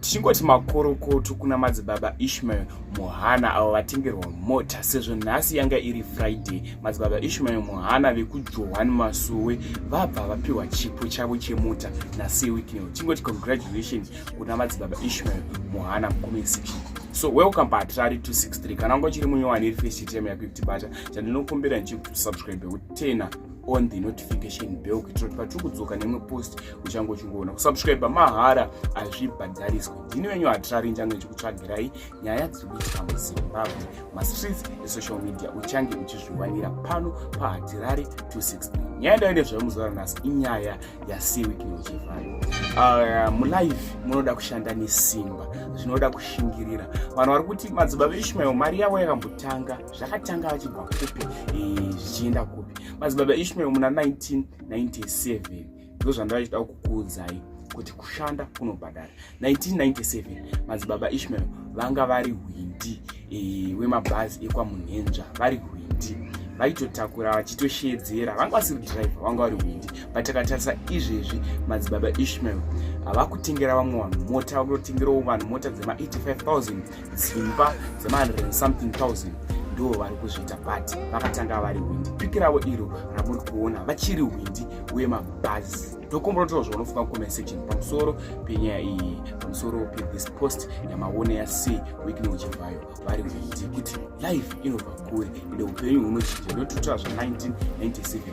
tichingoti makorokoto kuna madzibaba ishmael muhana avo vatengerwa mota sezvo nhasi yanga iri friday madzibaba ishmael muhana vekujohani masowe vabva vapiwa chipo chavo chemota nasey wicknel tichingoti congratulations kuna madzibaba ishmael muhana mucomment section so welcome pahatirari 263 kana wanga uchiri munyowani iri face chitema yako yekutibata chandinokumbira ndichikuti subscribe wekutena on the notification bell kuitira kuti patiri kudzoka nemwe post uchange uchingoona kusubscribe mahara hazvibhadhariswe ndini wenyu hatirari nchange chikutsvagirai nyaya dziri kuitika muzimbabwe mastreets esocial media uchange uchizviwanira pano pahatirari 263 nyaya ndayo nezvayo muzuva ranhasi inyaya yasiwikinochevhayo uh, mulive munoda kushanda nesimba zvinoda kushingirira vanhu vari kuti madzibaba ishmael mari yavo yakambotanga zvakatanga vachibva kupi eh, zvichienda kupi madzibaba ishmael muna 1997 ndozvandaichida kukuudzai kuti kushanda kunobhadhara 1997 madzibaba ishmael vanga vari hwindi e, wemabhazi ekwamunhenzva vari hwindi vaitotakura vachitosheedzera vanga vasiri drive vanga vari hwindi but takatarisa izvezvi madzibaba ishmael havakutengera vamwe vanhu mota vakutotengerawo vanhu mota dzema 85000 dzimba dzema something thousand ndivo vari kuzviita but vakatanga vari hwindi piki ravo iro ramuri kuona vachiri hwindi uye mabhazi ndokomborotoro zvaunofunga kucomment section pamusoro penyaya iyi pamusoro pethis post yamaone yasei wikini uchibvayo vari hwindi kuti life inobva kure ende upenyu hunochinja ndotutsva zva 1997